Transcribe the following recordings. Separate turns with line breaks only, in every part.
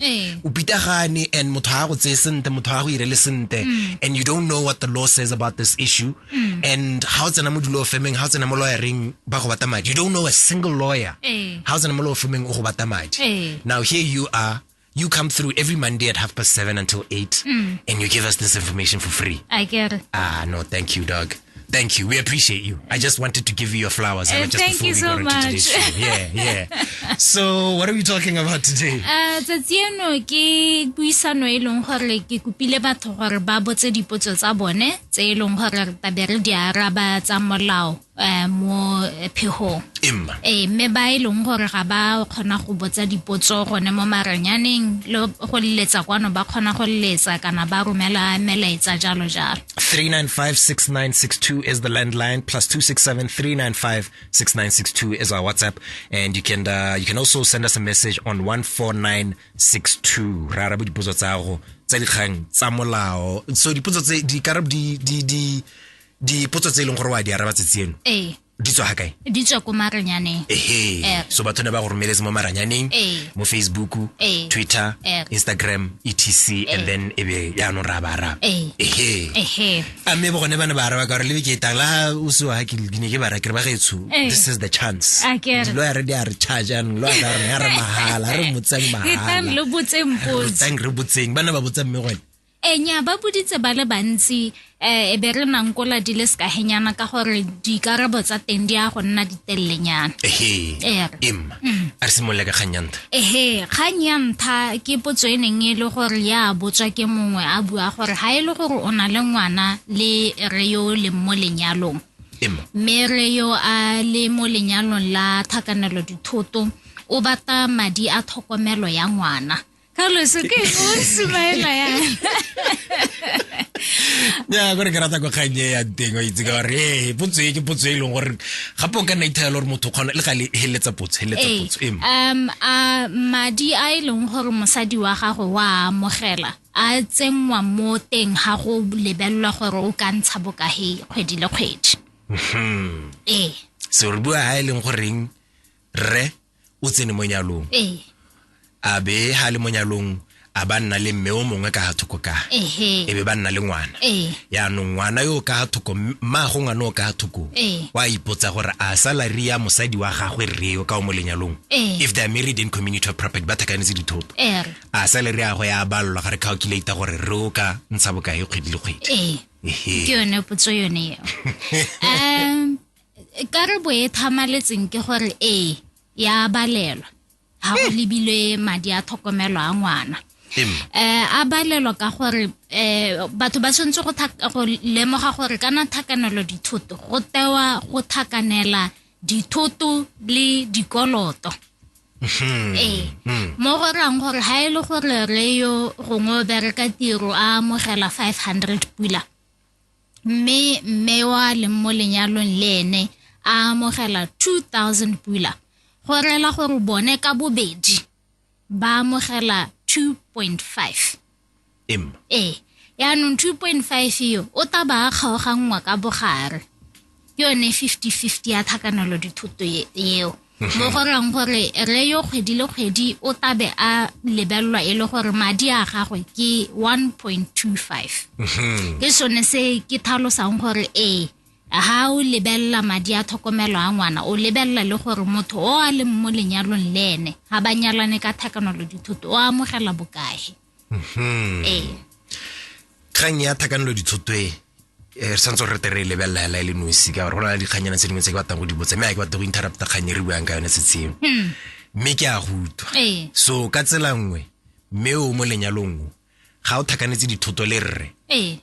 Eh. o pitagane and motho ga go tseye sente motho ga go irele sente mm. and you don't know what the law says about this issue mm. and ga o tsena mo dilo femeng ga o tsena mo lawyering ba go bata madi you don't know a single lawyer ga eh. o tsena mo law femeng o go bata madi eh. now here you are you come through every Monday at half past seven until eight, mm. and you give us this information for free. I get it. Ah, no, thank you, dog. Thank you. We appreciate you. I just wanted to give you your flowers. Uh, thank you so much. Yeah, yeah. so, what are we talking about today? Uh, tsatsi eno ke puisano e leng gore ke kopile batho gore ba botse dipotso tsa bone tse e leng gore re tabe re di araba tsa molao eh, mo phegong emma ee mme ba e leng gore ga ba kgona go botsa dipotso gone mo maranyaneng le go leletsa kwano ba kgona go leletsa kana ba romela melaetsa jalo jalo 3956962 is the landline plus 267-395-6962 is our whatsapp and you can uh, you can also send us a message on 14962 ra dipotso tsa go tsa dikgang tsa molao so dipotso tse di karab di di di dipotso tse e leng gore wa di araba tsetse eno ee di tswa ga kae di tswa ko maranyaneng ehe eh. so batho ne ba go romeletse mo maranyaneng eh. mo facebook eh. twitter instagram etc and then e be yaanong ra ba araba ehe a mme bo gone ba ne ba araba ka gore lebe ke etang la o se wa ke ne ke ba rakere ba gaetsho this is the chance lo ya re di a re charge anong lo ya ka rone ya re mahala re motseng mahala re botseng re botseng ba ne ba botseng mme gone Ee, nya ba boditse ba le bantsi um e be re nankola di le sekahenyana ka gore dikarabo tsa teng di ya go nna ditelelenyana ehe Ee. em Mm. a re simolola ka kgang ya ntha ehe kgang ya ntha ke potso e neng e le gore ya botswa ke mongwe a bua gore ga e le gore o na le ngwana le re yo o leng mo lenyalong em mme re yo a le mo lenyalong la thakanelo dithoto o batla madi a tlhokomelo ya ngwana Carlos, o ke o sumaela ya. Ya gore ke rata go kgang ya teng o itse ka gore eh potso e ke potso e leng gore gape o ka nna ithaela gore motho kgona le ga le heletsa potso heletsa eh, potso em. Um a madi a e leng gore mosadi wa gago wa amogela a tsenngwa mo teng ga go lebelelwa gore o ka ntsha bokahe kgwedi le kgwedi. Mhm. Eh. Se re bua ha e leng goreng re o tsene mo nyalong ee a be ha le mo nyalong a ba nna le mme o mongwe ka ga thoko ka ehe e be ba nna le ngwana ee yaanong ngwana yo o ka ga thoko mmaago ngwana o ka ga thoko Ee. wa ipotsa gore a salary ya mosadi wa gagwe rre yo ka o mo lenyalong Ee. if they are married in community of property ba thakanetse dithoto ere a salary ya gagwe ya balelwa ga re calculate gore rre o ka ntsha bokae kgwedi le kgwedi ee Ehe. ke yone potso yone eo um karabo e thamaletseng ke gore ee ya balelwa ga go lebilwe madi a tlhokomelo a ngwana eh a balelwa ka gore eh batho ba tshwanetse go go lemoga gore kana thakanelo dithoto go tewa go thakanela dithoto le dikoloto hmm. ee hmm. mo go rang gore ha e le gore re yo gongwe o bereka tiro a amogela 500 pula mme mme wa leng mo lenyalong le ene a amogela 2000 pula go rela gore bone ka bobedi ba amogela 2.5 em ee yaanong 2.5 eo o ta ba a kgaoganngwa ka bogare ke yone fifty fifty ya tlhakanelo dithoto eo mo go reng gore re yo kgwedi le kgwedi o tabe a lebelelwa e le gore madi a gagwe ke one point two five ke sone se ke tlhalosang gore ee ha o lebelela madi a tlhokomelo a ngwana o lebelela le gore motho o a leng mo lenyalong le ene ga ba nyalane ka tlhakanelo dithoto o amogela bokae ee kgang ya thakanelo ditshotwe eh, re santse re tere e lebelela hela e le nosi ka gore go na le dikganyana tse dingwe tse ke batlang go di botsa mme a ke batla go interrupta kgang e re buang ka yone setsheng hmm. mme ke a go utlwa ee. so ka tsela nngwe mme o mo lenyalong ga o thakanetse dithoto le rre ee.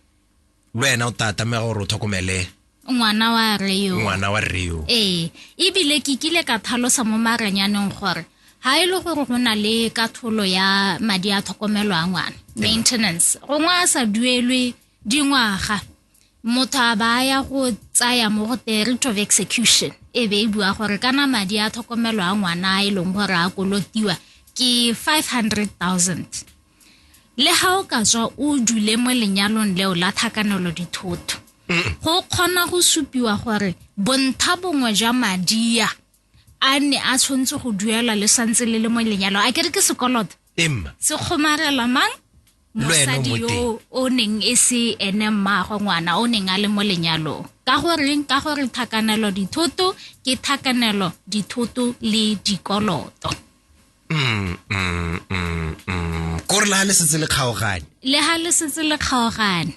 le wena o tla tlameya gore o tlhokomele ngwana wa rre yo ngwana wa rre yo ee ebile ke kile ka thalosa mo maranyaneng gore ha e le gore go na le katholo ya madi a tlhokomelo a ngwana maintenance gongwe a sa duelwe dingwaga motho a ba ya go tsaya mo go the rate of execution e be e bua gore kana madi a tlhokomelo a ngwana a e leng gore a kolotiwa ke 500 000 le ga o ka tswa o dule mo lenyalong leo la thakanelo dithotho go kgona go supiwa gore bontha bongwe jwa madia a ne a tshwanetse go duelwa le santse le le mo lenyalo a kere ke sekoloto emma se kgomarela mang Le wena o mosadi mo teng. yo o neng e se ene mmaagwe ngwana o neng a le mo lenyalong ka goreng ka gore thakanelo dithoto ke thakanelo dithoto le dikoloto mm, mm, mm, mm. kore le ga le setse le kgaogane le ga le setse le kgaogane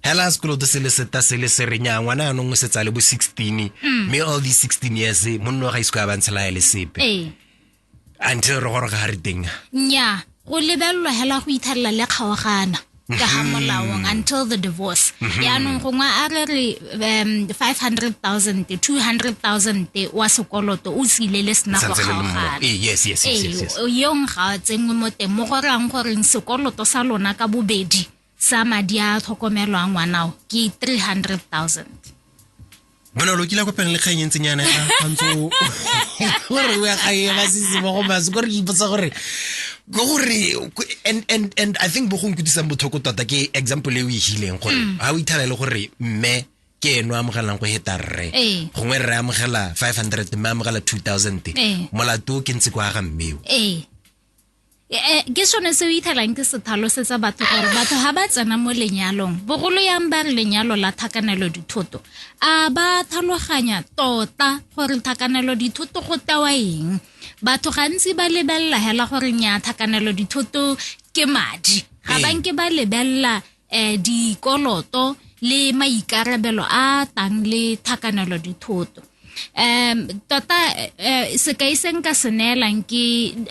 hela sekoloto se le seta se le serenya ngwana yanong o setsa le bo 16 mm. mme all these 16 years monno ga isko ya bantshela ya le sepe ee. until re goroga ga re teng nya go lebelelwa hela go ithalela le kgaogana ka ga mm-hmm. molaong until the divorce mm-hmm. yaanong gongwe a re re um 500000 200000 wa sekoloto o tsile le sena go kgaogana yong ga a tsenngwe mo teng mo gorang goreng sekoloto sa lona ka bobedi sa madi a tlhokomelwang ngwanao ke 300000 bona lo kile kopeng le kgang e ntseng yana ya kgantso gore o ya kgang e ba sese mo go maso gore di ipotsa gore go gore and and and i think bo go nkutlisang bothoko tota ke example e o e hileng gore mm. ha o ithala le gore mme ke eno amogelang go heta rre ee. gongwe rre amogela 500 mme amogela 2000 ee. molato ke ntse kwa ga mmeo ee. ke sone se o ithelang ke se tlhalosetsa batho gore batho ga ba tsena mo lenyalong bogolo yang ba re lenyalo la thakanelo dithoto a ba tlhaloganya tota gore thakanelo dithoto go tewa eng batho gantsi ba lebelela hela gore nya thakanelo dithoto ke madi ga ba nke ba lebelela eh, dikoloto le maikarabelo a tang le thakanelo dithoto um tota eh, sekai se nka se neelang ke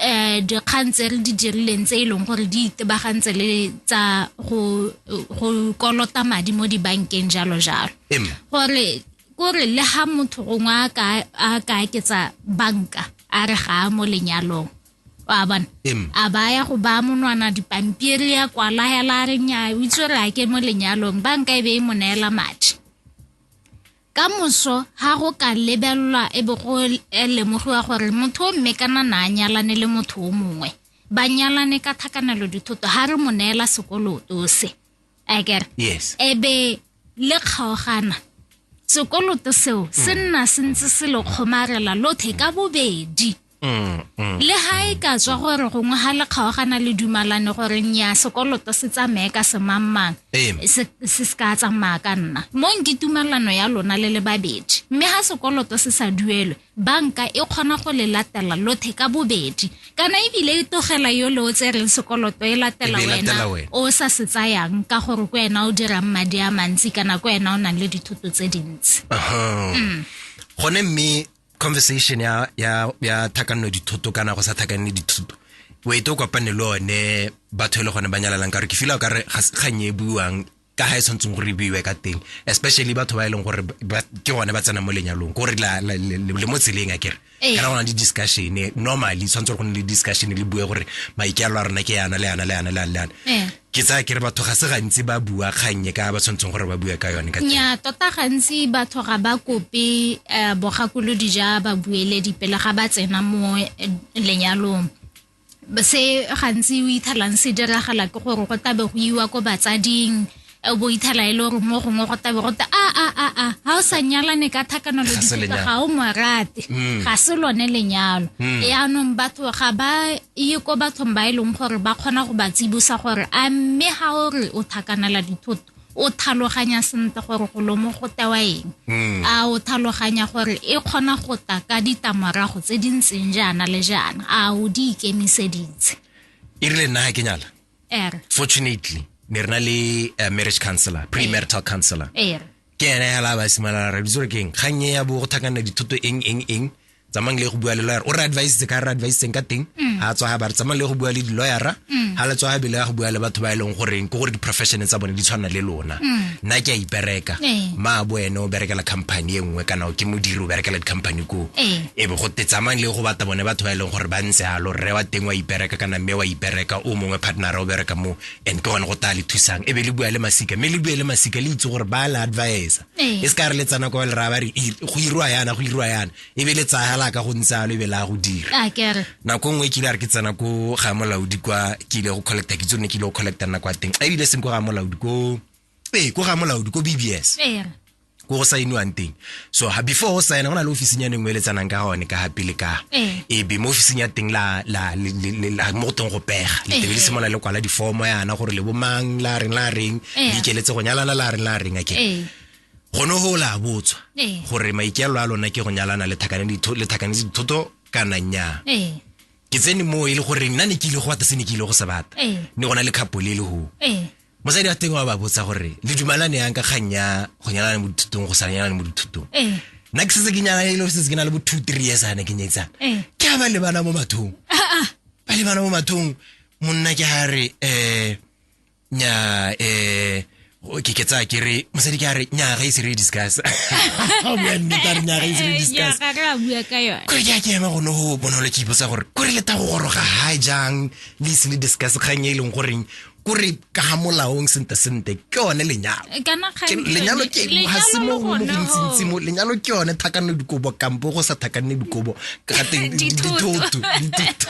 eh, dikgang tse re di dirileng tse e leng gore di itebagantse le tsa go go kolota madi mo dibankeng jalo jalo Em. gore kore le ga motho gongwe a ka- a ka aketsa banka a re ga a mo lenyalong wa bona a baya go ba monwana dipampiri ya kwala hela re nya o itse re ake mo lenyalong banka e be e mo neela madi ka moso ha go ka lebelelwa e be go lemogiwa gore motho o mme kana na a nyalane le motho o mongwe ba nyalane ka thakanelo dithoto ha re mo neela sekoloto se akere yes e be le kgaogana sekoloto seo se nna se ntse se lo kgomarela lothe ka bobedi Mm, mm, le ga e ka tswa gore gongwe ga le kgaogana le dumalane gore nya sekoloto se tsamaye ka semangmang se se ka tsamaya ka nna mo nke tumalano ya lona le le babedi mme ga sekoloto se sa duelwe banka e kgona go le latela lothe ka bobedi kana ebile e togela yo le o tsereng sekoloto e latela wena o sa se tsayang ka gore ko wena o dirang madi a mantsi kana ko wena o nang le dithoto tse dintsi mm. gone mme conversation ya ya ya thakanno dithoto kana go sa thakanne dithoto o ete o kopane le one batho e le gone ba nyalalang ka gore ke fila o kare ga kganye e buiwang ka ga e tshwanetseng gore e buiwe ka teng especially batho ba e leng gore ke gone ba tsena mo lenyalong ko gore le mo tseleng a kere ee. kana go na le discussion normally tshwanetse gore go ne le discussion le bue gore maikealo a rona ke yana le yana le yana le yana le yana ee. ke tsaya ke re batho ga se gantsi ba bua kgannye ka ba tshwanetseng gore ba bue ka yone ka nya tota gantsi batho ga ba kope um bogakolodi ja babueledi pele ga ba tsena mo eh, lenyalong se gantsi o ithalang se diragala ke gore go tabe go iwa ko batsading eh, o bo ithala e le gore mo gongwe go tabe go ta a a a a ga o sa nyalane ka thakanolo Ga se dipitsa lenyalo. ga o morate Mm. ga se lone lenyalo Mm. yaanong batho ga ba e ye ko bathong ba e leng gore ba kgona go ba tsibosa gore a mme ga o re o thakanela dithoto o thaloganya sentle gore go lomo go tewa eng hmm. a o thaloganya gore e kgona go ta ka ditamorago tse di ntseng jaana le jaana a o di ikemiseditse e rile nna ga ke nyala er fortunately ne re na le eh, marriage counselor premarital counselor er ke ene hela ba simala re ditsore keng kgang e ya bo go thakana dithoto eng eng eng tsamang le go bua le lawyer o re advice ka re advice ka teng mm. ha tswa ha ba re tsamang le go bua le di lawyer ha mm. le tswa ha bile go bua le batho ba e leng gore ke gore di profession tsa bone di tshwana le lona mm. nna ke a ipereka eh. ma bo ene o berekela company e nngwe kana ke modiri o berekela di company ko eh. e be go te tsamang le go bata bone batho ba e leng gore ba ntse a lo re wa teng wa ipereka kana mme wa ipereka o mongwe partner o bereka mo and ke gone go taya le thusang e be le bua le masika mme le bue le masika le itse gore ba le advisa Ee. e se ka re le tsana kwa le raya ba re "Ir- go irwa yana go irwa yana e be le tsaya la ka go ntse alo e be la go dira a kere nako nngwe ke ile a re ke tsena ko ga molaodi kwa ke ile go collecta ke tsone ke ile go collecta nna kwa teng ebile seng ko ga molaodi ko ee ko ga molaodi ko bbs ee ko go saeniwang teng so ha before o saena go na le officing ya neng o eletsanang ka gone ka gape le ka ee eh. be mo officing ya teng la la mo go teng go pega le tebe le simolola le kwala diformo yana gore le bomang la reng la reng le ikeletse go nyalana la reng la reng ake gone go la botswa gore maikeelo a lona ke go nyalana le thakanetse dithoto kana nya ke tsene mo e le gore nna ne ke ile go ata se ne ke ile go se bata ne gona le khapo le le go mosadi wa teng wa ba botsa gore le dumalane yang ka kgang ya go nyalana mo dithutong go sa nyalane mo dithutong eh. nna ke setse ke nyalana e le setse ke na le bo two three years ane ke nyetsana eh. ke a ba lebana mo mathong ah, ah. ba lebana mo mathong monna ke ga re um eh, nya um ke ke tsaya ke re mosadi ke a re nya ga ise re discuss bua nneta re nya ga ise re discuss kore ke a ke ema gone go bonolo ke ipotsa gore kore le ta go goroga ga jang le ise le discuss kgang e e leng goreng kore ka ga molaong sente sente ke yone lenyalo eh, lenyalo ke ga se mo mo gontsintsi mo lenyalo ke yone thakanne dikobo kampo go sa thakanne dikobo ka teng dithoto dithoto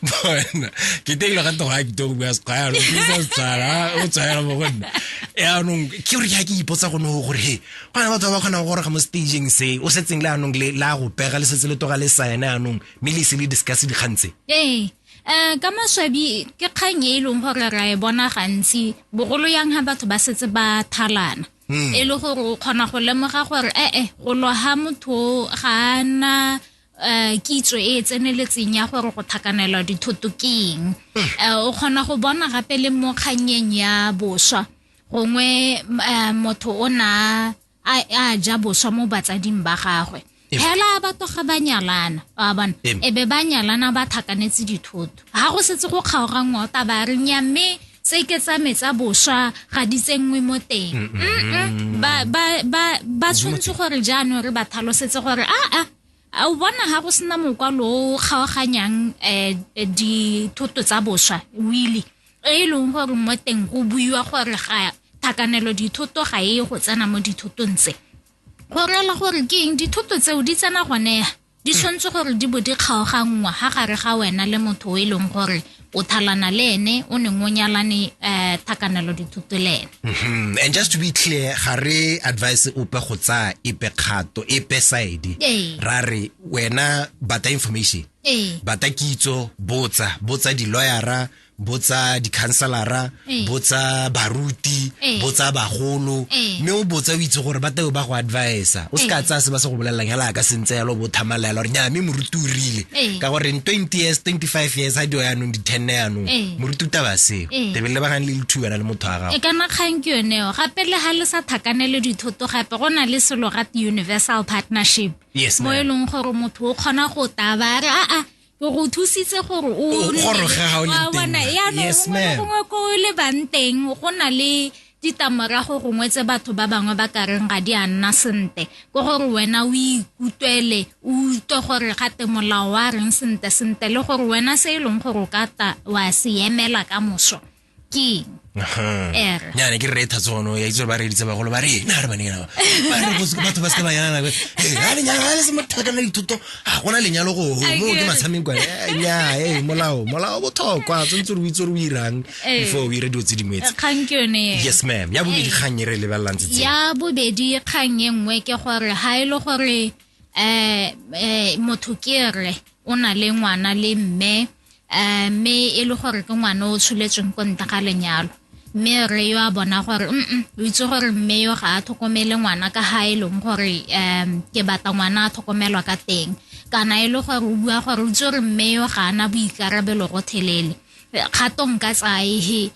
bona ke teng lo gato ga kitong bua sekgaya lo ke sa tsara o tsaya mo go nna yaanong ke gore ke ipotsa gone go gore he go na batho ba ba kgonang go goroga mo stageng se o setseng le anong le la go pega le setse le toga le saene anong mme le se le discuss dikgang tse ee. um ka maswabi ke kgang e e leng gore ra e bona gantsi bogolo yang ga batho ba setse ba thalana hmm. e le gore o kgona go lemoga gore ee go loga motho ga a na um kitso e e tseneletseng ya gore go thakanelwa dithoto ke eng um hmm. o kgona go bona gape le mo kgannyeng ya boswa gongwe um motho o na a a ja boswa mo batsading ba gagwe phela ba toga ba nyalana wa bona e be ba nyalana ba thakanetse dithoto ga go setse go kgaoga ngota ba re nya mme tse ke tsa metsa boswa ga di tsenngwe mo teng ba tshwanetse gore jaanong re ba tlhalosetse gore a a a o bona ga go sena mokwalo o kgaoganyang um dithoto tsa boswa wili e e leng gore mo teng go buiwa gore ga thakanelo dithoto ga e go tsena mo dithotong tse go rela gore ke eng dithoto tseo di tsena gone di tshwanetse gore di bo di kgaoganngwa ga gare ga wena le motho o e leng gore o thalana le ene o neng o nyalane um thakanelo dithuto le ene Mhm. and just to be clear ga re advice ope go tsaya epe kgato epe side Ee. ra re wena bata information ee bata kitso botsa botsa di-lawyera botsa di-counselara Eh. botsa baruti eh. botsa bagolo eh. mme o botsa o itse gore ba teo ba go advisa o se ka tsaya se ba se go bolelelang hela ya ka sentse yalo bo thamalela gore nya mme moruti o rile ka gore in 20 years 25 years ha dio yanong di-tenne yanong moruti o taba seo tebele le bagane le lethu wena le motho wa gago e kana kgang ke yoneo gape le ga le sa thakanele dithoto gape go na le selo gate universal partnership mo e leng gore motho o kgona go taba a re aa o go thusitse gore o goroge ga o le teng yes ma'am gongwe ko le bang teng go na le ditamorago gongwe tse batho ba bangwe ba ka reng ga di a nna sentle ko gore wena o ikutlwele o utlwe gore gate molao wa reng sentle sentle le gore wena se e leng gore o ka ta wa se emela ka moso ke Ere. nyane ke rre e thatsono ya itse gore ba reditse bagolo ba rena re baneng ba ba re bose batho ba se ka ba yana nako e ga lenyalo ga le se motho a kana dithuto ga gona lenyalo go go mo ke matshameng kwa Eh, nya e molao molao o botlhokwa tshwanetse re o itse gore o irang Eh. before o ire dilo tse dingwe tse kgang ke yone eo. yes ma'am ya bobedi kgang e re lebelelang tse tse ya bobedi kgang e nngwe ke gore ga e le gore um motho ke re o na le ngwana le mme um mme e le gore ke ngwana o tsholetsweng ko nta ga lenyalo mme re yo a bona gore mm o itse gore mme yo ga a tlhokomele ngwana ka ga e leng gore um ke batla ngwana a tlhokomelwa ka teng kana e le gore o bua gore o itse gore mme yo ga ana boikarabelo go thelele kgatong ka tsae he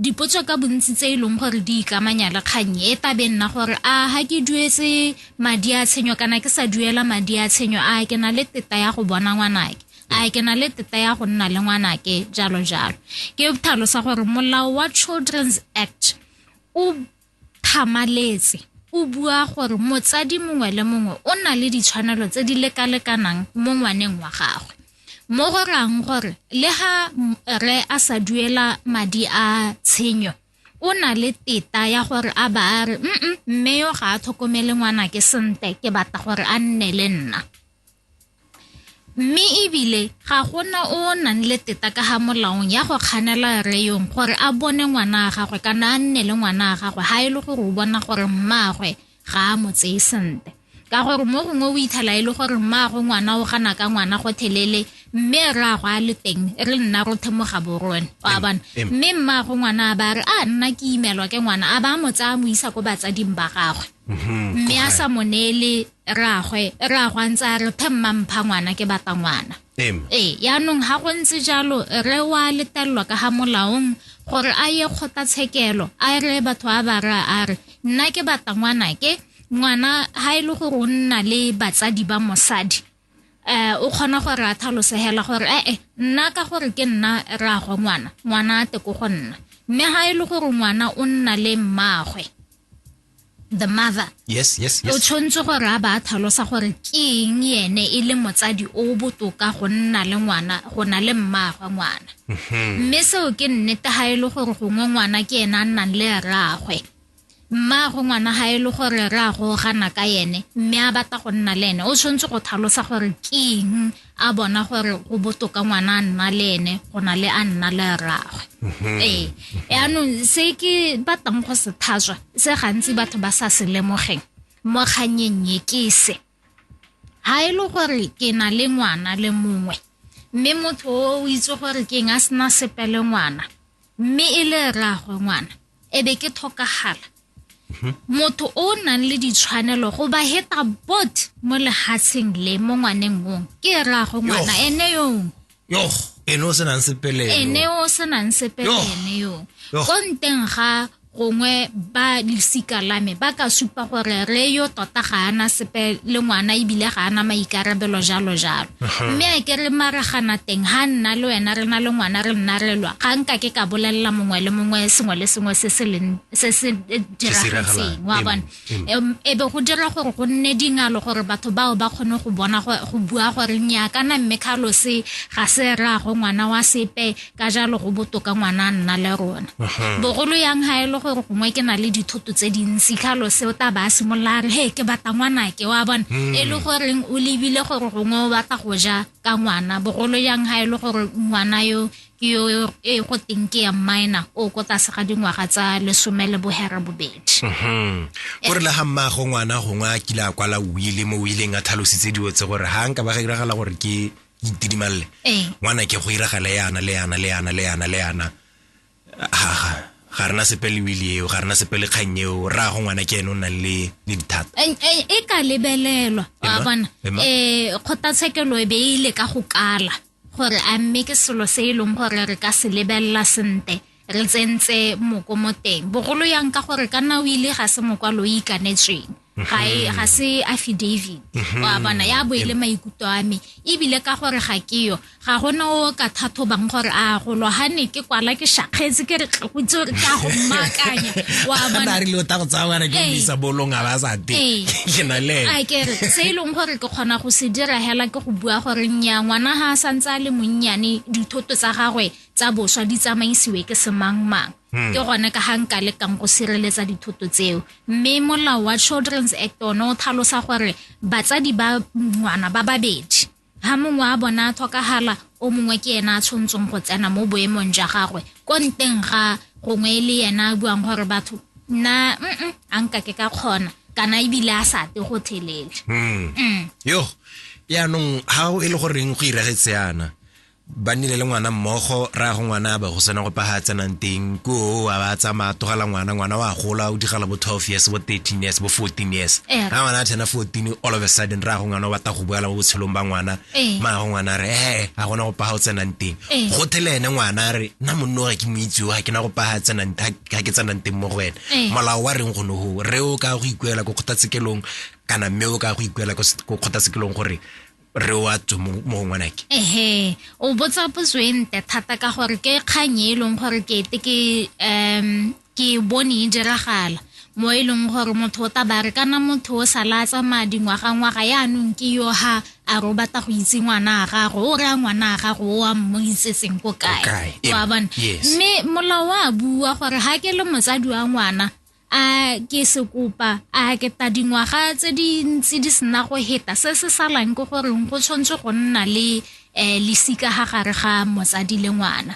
Dipotso ka bontsi tse e leng gore di ikamanya le kgang e tla be nna gore a ga ke duetse madi a tshenyo kana ke sa duela madi a tshenyo a ke na le teta ya go bona ngwanake a ke na le teta ya go nna le ngwanake jalo jalo ke tlhalosa gore molao wa children's act o Thamaletse o bua gore motsadi mongwe le mongwe o na le ditshwanelo tse di lekalekanang mo ngwaneng wa gagwe mo go rang gore le ga re a sa duela madi a tshenyo o na le teta ya gore a ba a re mme yo ga a tlhokomele ngwana ke sentle ke batla gore a nne le nna. Mme e bile ga go na o o nang le teta ka ga molaong ya go kganela rre yong gore a bone ngwana wa gagwe kana a nne le ngwana wa gagwe ga e le gore o bona gore mmaagwe ga a mo tseye sentle ka gore mo gongwe o ithala e le gore mmaagwe ngwana o gana ka ngwana go thelele mme re a go a le teng re nna ro themoga borone o a bona mme mmaagwe ngwana a ba re a nna ke imelwa ke ngwana a ba mo tsaya mo isa ko batsading ba gagwe mm-hmm. mme a sa mo neele rraagwe rraagwe a ntse a re phe mma mpha ngwana ke batla ngwana ee yaanong ga go ntse jalo re wa letelelwa ka ga molaong gore a ye kgotlatshekelo a re batho ba ba re a re nna ke batla ngwana ke ngwana ga e le gore o nna le batsadi ba mosadi um o kgona gore a thalosegela gore ee nna ka gore ke nna rraagwe ngwana ngwana a te ko go nna mme ga e le gore ngwana o nna le mmaagwe the mother yes yes yes o tshwanetse gore a ba tlhalosa gore ke eng ene e le motsadi o botoka go nna le ngwana go na le mmaagwe ngwana mhm. mme seo ke nnete ga e le gore gongwe ngwana ke ene a nnang le rraagwe mmaagwe ngwana ga e le gore rraagwe o gana ka ene mme a batla go nna le ene o tshwanetse go tlhalosa gore ke eng a bona gore go botoka ngwana a nna le ene go na le a nna le rraagwe mhm. ee yaanong se ke batlang go se thaswa se gantsi batho ba sa se lemogeng mo kganyeng ye ke se ga e le gore ke na le ngwana le mongwe mme motho o itse gore ke eng a sena sepele ngwana mme e le rraagwe ngwana e be ke tlhokagala mhm. motho o o nang le ditshwanelo go ba heta bot mo lehatsheng le mo ngwaneng mong ke rraagwe ngwana ene yong yoh ene o senang sepele ene o senang sepele ene yong ko nteng ga gongwe ba losika la me ba ka supa gore re yo tota ga ana sepe le ngwana ebile ga ana maikarabelo jalo jalo mme a ke re maragana teng ga nna le wena re na le ngwana re nna re lwa ga nka ke ka bolelela mongwe le mongwe sengwe le sengwe se se leng se se diragetseng wa bona e be go dira gore go nne dingalo gore batho bao ba kgone go bona go bua gore nya kana mme khalose ga se raago ngwana wa sepe ka jalo go botoka ngwana a nna le rona bogolo yang ga e le gore gongwe ke na le dithoto tse dintsi khalose o taba a simolola a re he ke batla ngwana ke wa bona hmm. e le goreng o lebile gore gongwe o batla go ja ka ngwana bogolo yang ga e le gore ngwana yo ke yo e go teng ke ya minor o ko tlase ga dingwaga tsa lesome le bohera bobedi mhm. o re le ga mmago ngwana gongwe a kile a kwala wile mo wileng a tlhalositse dilo tse gore ga nka ba ga iragala gore ke itidimalele ee. ngwana ke go iragala yana le yana le yana le yana le yana ga rena sepe le wili eo ga rena sepe le kgang eo ra go ngwana ke ene o nang le le dithata e ka lebelelwa wa bona um kgotlatshekelo e be e ile ka go kala gore a mme ke selo se e leng gore re ka se lebelela sentle re tsentse moko mo teng bogolo yang ka gore ka nna o ile ga se mokwalo o ikanetsweng ga e ga se affidavit mhm. wa bona ya bo ile maikutlo a me ebile ka gore ga ke yo ga gona o ka thathobang gore a go lo ha ne ke kwala ke shakgetse ke re tlogotse gore ke a go mmakanya wa bona a re lo ta go tsaya wena ke bisa bolong a ba sa te ke na le a ke re se e leng gore ke kgona go se dira hela O bua gore nnyaa ngwana ga a santse a le monnyane dithoto tsa gagwe tsa boswa di tsamaisiwe ke semangmang ke gone ka ga nka lekang go sireletsa dithoto tseo mme molao wa children's act one o tlhalosa gore batsadi ba ngwana ba babedi ga mongwe a bona a tlhokagala o mongwe ke ena a tshwantseng go tsena mo boemong jwa gagwe ko nteng ga gongwe e le ena a buang gore batho nna mm a nka ke ka kgona kana ebile a sa te go thelele hmm. mm. yo yaanong ga e le goreng go iragetse yana ba nnile le ngwana mmogo ra go ngwana ba go sena go paga tsenang teng ko a ba tsamaya togela ngwana ngwana wa gola o digala bo twelve years bo thirteen years bo fourteen years ga eh. ngwana a tshena fourteen all of a sudden ra go ngwana o batla go boela mo botshelong ba ngwana Ee. mara ngwana a re ee ga gona go paga o tsenang teng Ee. go thele ene ngwana a re nna monno ga ke moitsewa ga ke na go paga tsenang ga ga ke tsenang teng mo go ene Ee. molao wa reng gone go re o ka go ikuela ko kgotlatshekelong kana mme o ka go ikuela ko s- ko kgotlatshekelong gore re o a tswe mo mo go ngwanake ehe o botsa potso e nte thata ka gore ke kgang e e leng gore ke ete ke um ke e bone e diragala mo e leng gore motho o tabare kana motho o sa la tsamaya dingwaga-ngwaga yaanong ke yo ha a ro batla go itse ngwana a gago o raya ngwana a gago o a mo itsetseng ko kae kae, e- wa bona yes. mme molao wa bua gore ga ke le motsadi wa ngwana a ke se kopa a ke ta dingwaga tse di ntse di sena go heta se se salang ke goreng go tshwanetse go nna le um lesika ga gare ga motsadi le ngwana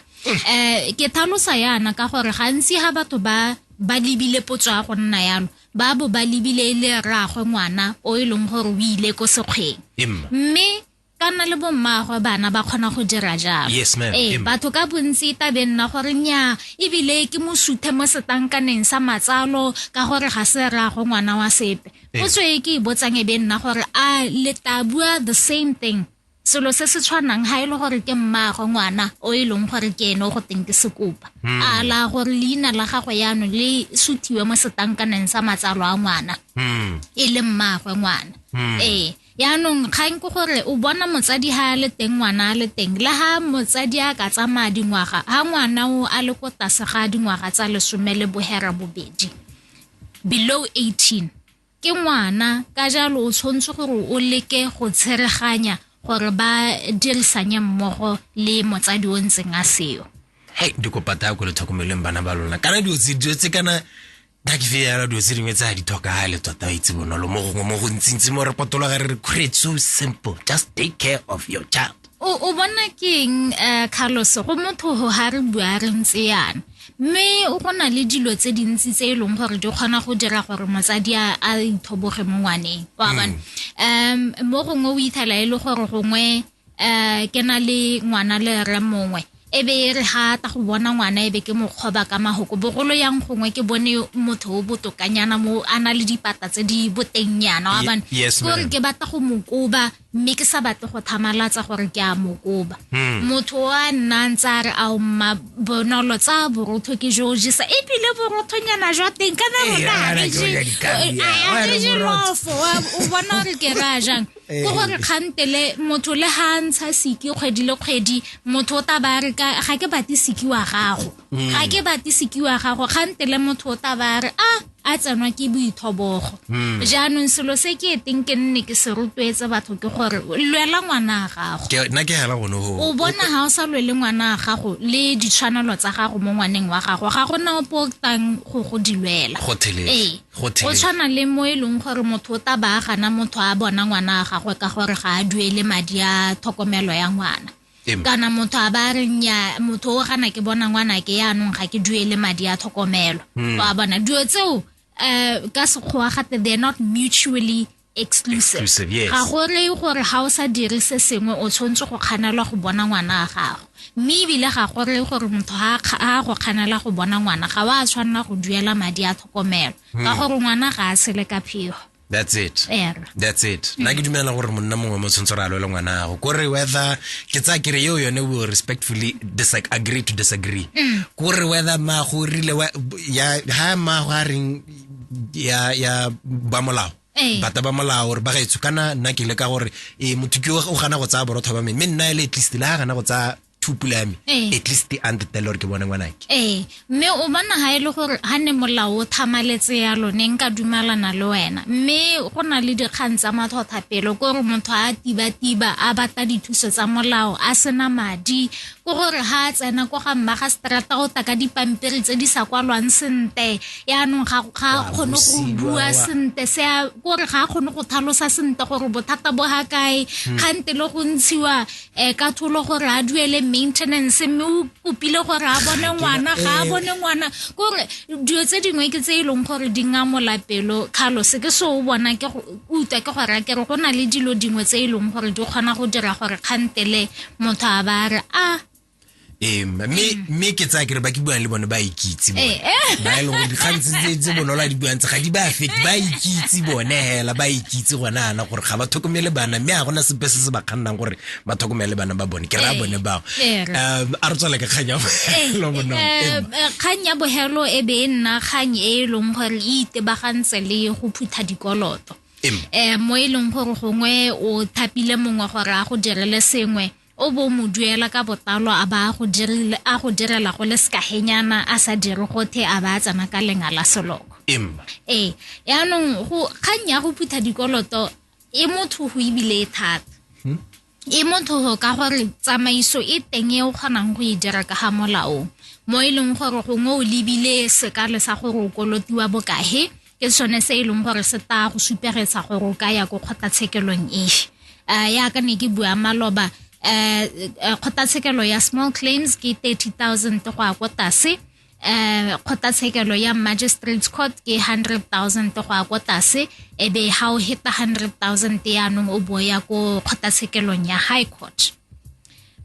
eh ke tlhalosa yana ka gore gantsi ga batho ba ba lebile potso ya go nna yalo ba bo ba lebile e le rraagwe ngwana o e leng gore o ile ko sekgweng mme ka nna le bommaagwe bana ba kgona go dira jalo yes, ee batho ka bontsi tabe nna gore nya ebile ke mosuthe mo setankaneng sa matsalo ka gore ga se rraagwe ngwana wa sepe potso e ke e botsang e be nna gore a le tabua the same thing selo se se tshwanang ga e le gore ke mmaagwe ngwana o e leng gore ke ene o go teng ke sekopa hmm. a la gore leina la gagwe yaanong le suthiwe mo setankaneng sa matsalo a ngwana hmm. e le mmaagwe ngwana hmm. ee yaanong kgang ke gore o bona motsadi ha a le teng ngwana a le teng le ha motsadi a ka tsamaya dingwaga ha ngwana o a le ko tlase ga dingwaga tsa lesome le bohera bobedi below 18 ke ngwana ka jalo o tshwanetse gore o leke go tshereganya gore ba dirisanye mmogo le motsadi o ntseng a seyo hei dikopata ya ko le tlhokomeleng bana ba lona kana dilo tse kana ka ke feyala dilo tse dingwe tse ga di tlhokagale tota ba itse bonolo mo gongwe mo go ntsintsi mo re potologa re re create so simple just take care of your child o o bona keng um eh, carlos go motho ga re bua re ntse yana mme o go na le dilo tse dintsi tse e leng gore di kgona go dira gore motsadi a ithoboge mo ngwaneng wa mm. bana um mo gongwe o ithala e le gore gongwe um ke na le ngwana le re mongwe e be e re ga ta go bona ngwana e be ke mokgoba ka mahoko bogolo yang gongwe ke bone motho o botokanyana mo a na le dipata tse di botennyana wa bane gore ke batla go mokoba mme ke sa batle go thamalatsa gore ke a mokoba hmm. motho wa nna ntse a re a mma bonolo tsa borotho ke jo jesa ebile borothonyana jwa teng ka na rona a re je lofo o bona gore ke ra jang ke gore kgantele motho le ga ntsha siki kgwedi le kgwedi motho o taba re ka ga ke bate siki wa gago mm. ga ke bate siki wa gago kgantele motho o taba re a a tsenwa ke boithobogo mm. jaanong selo se ke eteng ke nne ke se rotloetse batho ke gore lwela ngwana a gago nna ke hela gone go o bona ga o sa lwele ngwana a gago le ditshwanelo tsa gago mo ngwaneng wa gago ga gona o potang go go di lwela go thelele go tshwana le mo e leng gore motho o taba a gana motho a bona ngwana a gagwe ka gore ga a duele madi a tlhokomelo ya ngwana kana motho a ba reng ya motho o gana ke bona ngwana ke yaanong ga ke duele madi a tlhokomelo hmm. wa bona dilo tseo um ka sekgowa gate they're not mutually exclusive, exclusive yes. ga go reye gore ga o sa dire se sengwe o tshwanetse go kganelwa go bona ngwana wa gago mme ebile ga go reye gore motho a go kganela go bona ngwana ga wa tshwanela go duela madi a tlhokomelo hmm. ka gore ngwana ga a sele ka phego that's it yeah. that's it nna ke dumela gore monna mongwe mo tshwanetse re a lwele ngwana gago kore whether ke tsaya kere eo yone will respectfully disagree, agree to disagree mm. kore whether maago o rile ya ga maago a reng ya ya ba molao Ee. bata ba molao gore ba gaetsho kana nna ke le ka gore e motho ke o gana go tsaya borotho ba me mme nna ele at least le ga gana go tsaya thupula ya me Ee. at least a ntetele gore ke bone ngwanake ee mme o bona ga e le gore ga ne molao o thamaletse ya lone nka dumalana le wena mme go na le dikgang tsa matlhothapelo ko gore motho a tiba-tiba a batla dithuso tsa molao a sena madi o gore ga a tsena ko ga mma ga strata go taka dipampiri tse di sa kwalwang sente yaanong ga ga kgone go bua sente se a gore ga a kgone go thalosa sente gore bothata bo ga kae hmm. kgante le go ntshiwa um ka tholo gore a duele maintenance mme o kopile gore a bone ngwana ga a eh. bone ngwana kore dilo tse dingwe ke tse e leng gore di ngamolapelo carlos ke se o bona ke Utlwa ke gore a kere go na le dilo dingwe tse e leng gore di kgona go dira gore kgantele motho a ba a re a ee mme mme ke tsaya kere ba ke buang le bone ba ikitse bone Eh, eh. ba e leng gore dikgang tse- tse tse bonolo a di buang tse ga di ba fete ba ikitse bone hela ba ikitse gone ana gore ga ba tlhokomele bana mme ga gona sepe se se ba kgannang gore ba tlhokomele bana ba bone ke raya eh, bone bao eh, um a re tswale ka kgang ya bogelo eh, kgang ya bogelo e be e nna kgang e e leng gore e itebagantse le go phutha dikoloto um mo e leng gore gongwe o thapile mongwe gore a go direle sengwe o bo mo duela ka botalo a ba a go direla go le sekagenyana a sa dire gothe a ba a tsena ka lenga la seloko ee yaanong kgang ya go phutha dikoloto e motho go ebile e thata hmm? e motho go ka gore tsamaiso e teng e o kgonang go e dira ka ga molao mo e leng gore gongwe o lebile sekale sa gore o kolotiwa bokahe ke sone se e leng gore se ta go supegetsa gore o ka ya ko kgotlatshekelong efe um ya ka ne ke bua maloba um kgotlatshekelo ya small claims ke thirty thousand go ya ko tase um kgotlatshekelo ya magistrates court ke hundred thousand go ya ko tlase e be ga o heta hundred thousand yaanong o bo ya ko kgotlatshekelong ya high court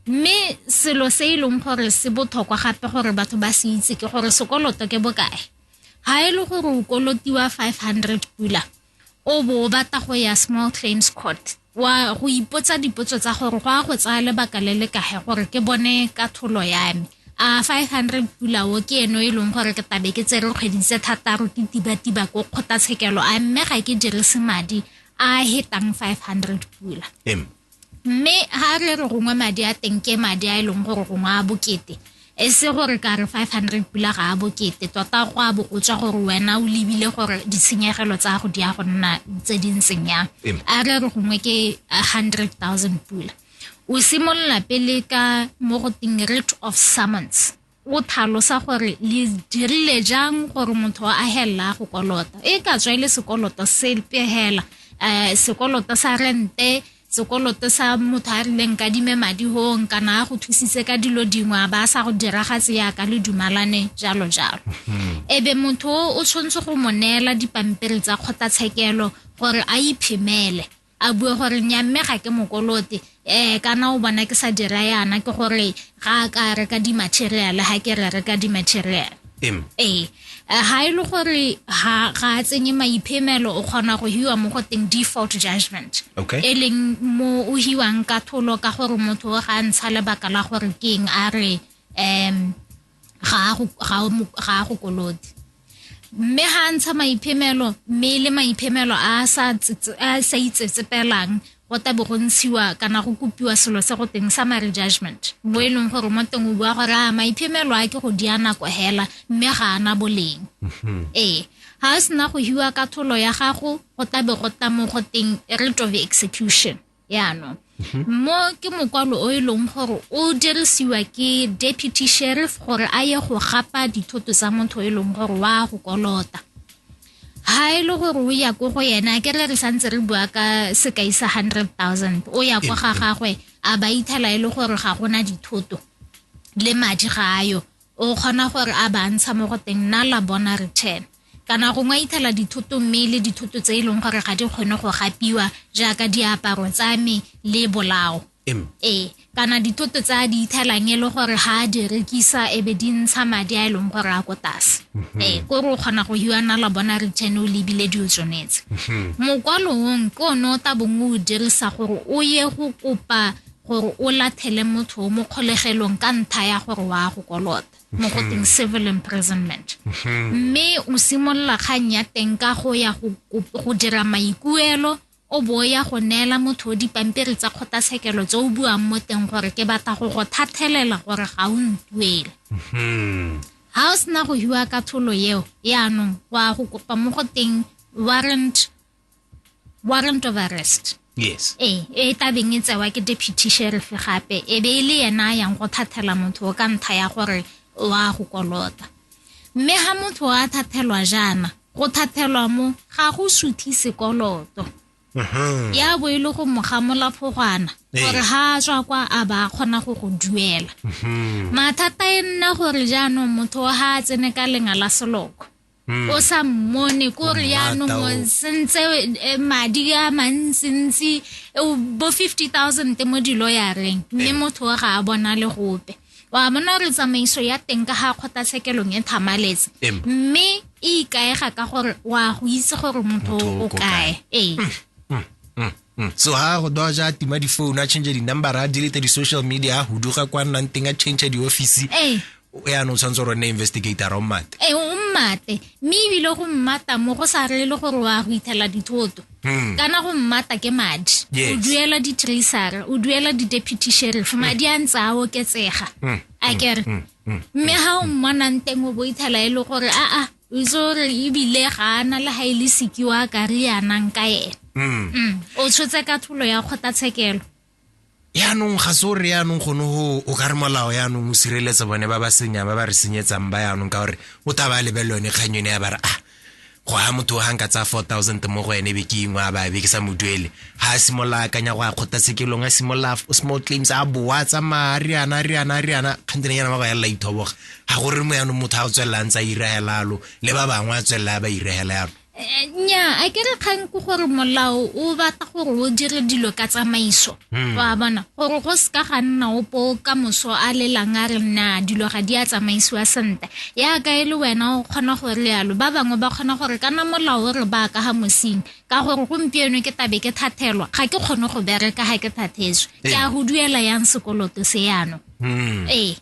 mme selo se e leng gore se botlhokwa gape gore batho ba se itse ke gore sekoloto ke bokae ga e le gore o kolotiwa five hundred pula o bo o batla go ya small claims court wa go ipotsa dipotso tsa gore go a go tsaya lebaka le le kage gore ke bone ka tholo ya me a 500 pulao ke eno e leng gore ke tabe ke tsere kgwedi tse thataro ke tiba-tiba ko kgotlatshekelo a mme ga ke dirise madi a hetang 500 pula mme ha re re gongwe madi a teng ke madi a e leng gore gongwe a bokete e se gore ka re 500 pula ga a bokete tota go a bo o tswa gore wena o lebile gore ditshenyegelo tsa go di ya go nna tse di ntseng yang a re re gongwe ke 100000 pula o simolola pele ka mo go teng rate of summons o tlhalosa gore le dirile jang gore motho a helela go kolota e ka tswa e le sekoloto sepe hela um sekoloto sa rente sekoloto sa motho a rileng ka dime madi hong kana a go thusitse ka dilo dingwe a ba sa go diragatse yaka le dumalane jalo jalo hmm. e be motho o tshwanetse go mo neela dipampiri tsa kgotlatshekelo gore a iphemele a bue gore nya mme ga ke mokolote um kana o bona ke sa dira yana ke gore ga a ka reka di-material ga ke re reka di-material ee ga e le gore ga a tsenye maiphemelo o kgona go hiwa mo go teng default judgment e leng mo o hiwang ka tholo ka gore motho o ga ntsha lebaka la gore ke eng a re um ga a go kolote mme ga a ntsha maiphemelo mme le maiphemelo a a sa itsetsepelang go tabe go ntshiwa kana go kopiwa selo se go teng summary judgment mo e leng gore mo teng o bua gore a maiphemelo a ke go di a nako hela mme ga ana boleng mm-hmm. ee ga a sena go hiwa katholo ya gago go tabe go tamo go teng rate of execution yaanong mhm. mo ke mokwalo o e leng gore o dirisiwa ke deputy sheriff gore a ye go gapa dithoto tsa motho e leng gore wa go kolota ha e le gore o ya ko go yena ke re re santse re bua ka sekai sa hundred thousand o ya kwa ga gagwe a ba ithela e le gore ga gona dithoto le madi ga ayo o kgona gore a ba ntsha mo go teng nna la bona return kana gongwe a ithela dithoto mme le dithoto tse e leng gore ga di kgone go gapiwa jaaka diaparo tsa me le bolao ee kana dithoto tse a di ithelang e le gore ga a di rekisa e be di ntsha madi a e leng gore a ko tlase mhm. ee ko re o kgona go hiana la bona return o lebile di o tsonetse mhm. mokwalong ke one o tabong o dirisa gore o ye go kopa gore o lathele motho o mo kgolegelong ka ntha ya gore wa go kolota mo go teng mhm. civil imprisonment mhm. mme o simolola kgang ya teng ka go ya go dira maikuelo o bo ya go neela motho o dipampiri tsa kgotlatshekelo tse o buang mo teng gore ke batla go go thathelela gore ga o ntuele mhm. ga o sena go hiwa ka tholo eo yaanong wa go kopa mo go teng warrant warrant of arrest yes ee e tabeng e tsewa ke deputy sheriff gape e be e le yena yang go thathela motho o ka ntlha ya gore wa go kolota mme ga motho a thathelwa jaana go thathelwa mo ga go suthi sekoloto mhm. ya bo e le go moga molafogwana ee. gore ga a tswa kwa a ba kgona go go duela mhm. mathata e nna gore jaanong motho ga a tsene ka lenga la seloko Hmm. o sa mmone ko re yaanong sentse eh, madi a mantsintsi eh, bo fifty thousand mo dilo ya reng mme eh. motho o ga a bona le gope wa bona gore tsamaiso ya teng ka ga kgotlatshekelong e thamaletse mme e ikaega ka gore wa go itse gore motho o kae ee hmm, hmm, Hmm. so ha go doja a tima di-phone a change di-number a delete di-social media a huduga kwa nnang teng a change di-office yaanong o tshwanetse gore nne investigator o mmate ee o mmate mme ebile go mmata mo go sa rele gore wa go ithela dithoto hmm. kana go mmata ke madi o duela di-tracer o duela di-deputy sheriff hmm. madi a ntse a oketsega hmm. a kere mme ga o mmonang teng o bo ithela e le gore aa o itse gore ebile ga ana le ga e le seke wa ka re yanang ka ene mm. mm. o tshotse ka tholo ya kgotlatshekelo yaanong ga se o re yaanong gone go o ka re molao yaanong o sireletsa bone ba ba senyang ba ba re senyetsang ba yaanong ka gore o taba a lebelele yone kgang yone ya ba re ah go a motho ga nka tsaya four thousand mo go ene be ke ingwe a babe ke sa mo duele ga a simolola akanya go a kgotla sekelong a simolola small claims a boa tsamaya a riana a riana a riana kgantene yana ba go yalela ithoboga ga go re mo yanong motho a go tswelela a ntse a irahela yalo le ba bangwe a tswelela a ba irahela yalo Eh, nya a ke re kgang ke gore molao o batla gore o dire dilo ka tsamaiso Hmm. wa bona gore go seka ga nna opo ka moso a lelang a re na dilo ga di a tsamaisiwa sentle yaka e le wena o kgona go re yalo ba bangwe ba kgona gore kana molao o re ba ka ga mosing ka gore gompieno ke tabe ke thathelwa ga ke kgone go bereka ga ke thathetswe ke a go duela yang sekoloto se yano Hmm. ee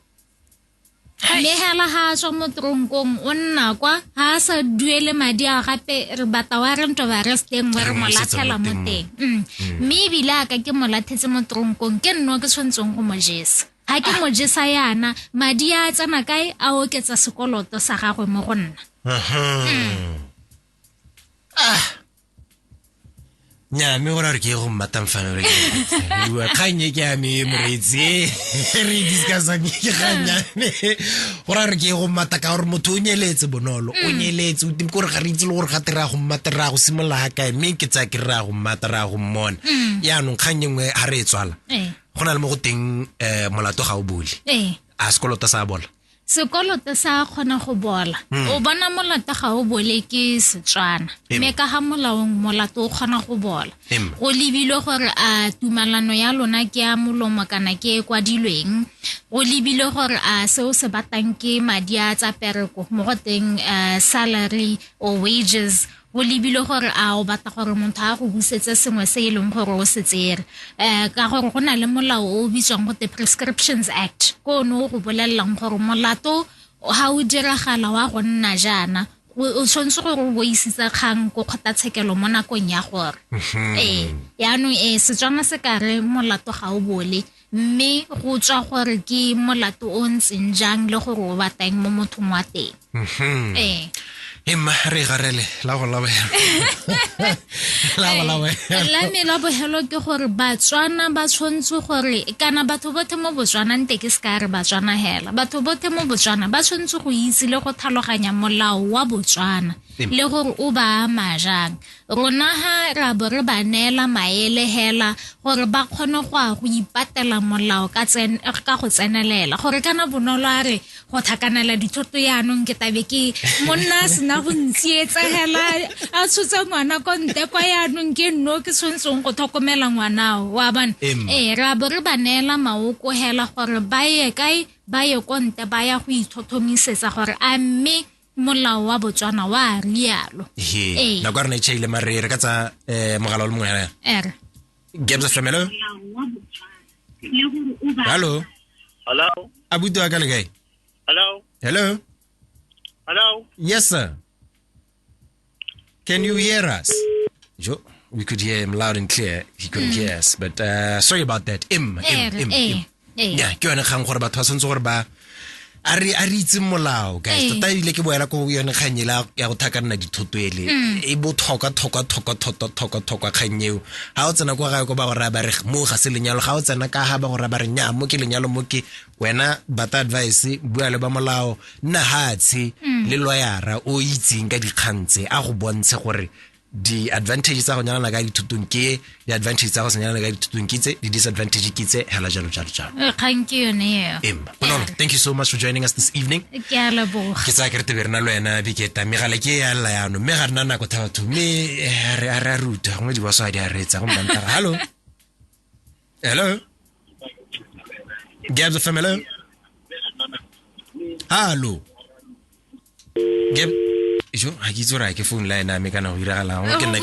mme hela ha a tswa mo tronkong o nna kwa ha a sa duele madi a gape re bata wa re nto ba re steng wa re mo latlhela mo teng mm. Mm. mme ebile a ka ke mo lathetse mo tronkong ke nno ke tshwanetseng go mo jesa ga ke mo jesa yana madi a tsena kae a oketsa sekoloto sa gagwe mo go nna mm. ah nya mme gore re ke go mmatang fano re bua kgang e ke ya me moreetsi e re discussang ke kgang ya me gore re ke go mmata ka gore motho o nyeletse bonolo o mm. nyeletse o timi kore ga re itse le gore ga te raya go mmata raya go simolola ga kae mme ke tsaya ke raya go mmata raya go mmona mm. yaanong kgang e nngwe ga re e tswala eh. go na le mo go teng um molato ga o bole eh. a sekoloto sa bola sekoloto sa kgona go bola hmm. o bona molato ga o bole ke setswana mme ka ga molaong molato o kgona go bola go lebilwe gore a tumalano ya lona ke ya molomo kana ke e kwadilweng go lebilwe gore a se o se batang ke madi a tsa pereko mo go teng eh, salary or wages go lebile gore a o batla gore motho a go busetse sengwe se e leng gore o se tsere um ka gore go na le molao o o bitswang gote prescriptions act ko one o go bolelelang gore molato ga o diragala wa go nna jaana o tshwanetse gore o boisitse kgang ko kgotlatshekelo mo nakong ya gore ee yaanong ee setswana se ka re molato ga o bole Mme go tswa gore ke molato o ntseng jang le gore o batang mo mothong wa teng. Mhm. Ee. e mma re e garele la go labogelo la go labogelo la me la bogelo ke gore batswana ba tshwanetse gore kana batho bothe mo botswana nte ke seka re batswana hela batho bothe mo botswana ba tshwanetse go itse le go tlhaloganya molao wa botswana Amen. le gore o ba ama jang Rona ha ra bo re ba neela maele hela gore ba kgone go a go ipatela molao ka tsen ka go tsenelela gore kana bonolo a re go thakanela dithoto yaanong ke tabe ke monna a sena go ntsietsa hela a tshotse ngwana ko nte kwa yaanong ke nno ke tshwanetseng go tlhokomela ngwanao wa bana ee ra bo re ba neela maoko hela gore ba ye kae ba ye ko nte ba ya go ithothomisetsa gore a mme molao wa botswana wa rialo ee nako rena e chaile mare re ka tsa um mogala o le mongwe yana ere gebsa flamelo hallo hallo abuti wa ka le kae hallo hello hello yes sir Can you hear us? Jo, we could hear him loud and clear. He couldn't hear us, but uh, sorry about that. Im, im, Eh, im, eh, im. eh. Yeah, ke yone kgang gore batho ba tshwanetse gore ba a re a re itse molao guys Eh. tota ile ke boela ko yone kgang ele ya- ya go thakanna dithoto ele Mm. e botlhokwa tlhokwa tlhokwa tlhokwa tlhokwa tlhokwa kgang eo ga o tsena kwa gae ko ba go raya ba re mo ga se lenyalo ga o tsena ka ga ba go raya ba re nya mo ke lenyalo mo ke wena bata advice bua le ba molao nna hatshe mm. le loyara o itseng ka dikgang tse a go bontshe gore di-advantage tsa go nyalana ka dithutong ke di-advantage tsa go se nyalana ka dithutong ke tse di-disadvantage ke tse hela jalo jalo jalo eh, kgang ke yone eo emma bonolo thank you so much for joining us this evening ke a leboga ke tsaya kerete be re na le wena biketa mme gale ke ya lela yano mme ga re na nako thabatho mme eh, a re a ruta gongwe diboso a di a reetsa gomme bantara hallo Hello. Gabs FM, hello. Hello. Gab jo ga ke itse gore ke phone line ame kana go diragalang ke nna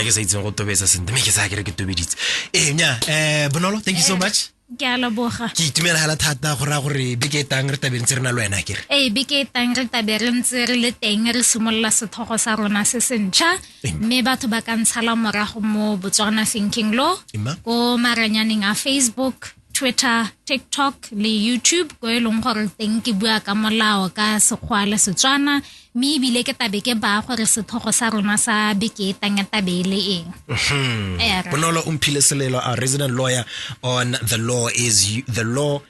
ke sa itseng go tobetsa sentle mme ke sa kere ke tobeditse ee nya um bonolo thank you so much ke a leboga ke itumela fela thata go raya gore beke e tang re tabe ntse re na le wena kere ee beke e tang re tabe re ntse re le teng re simolola sethogo sa rona se sentšha mme batho ba ka ntshala morago mo botswana thinking law ko maranyaneng a facebook twitter tiktok le youtube ko e leng gore teng ke bua ka molao ka sekgwa le setswana mme ebile ke tabe ke baya gore sethogo sa rona sa beke e tang tabe e le eng mhm. bonolo o mphile selelo a resident lawyer on the law is the law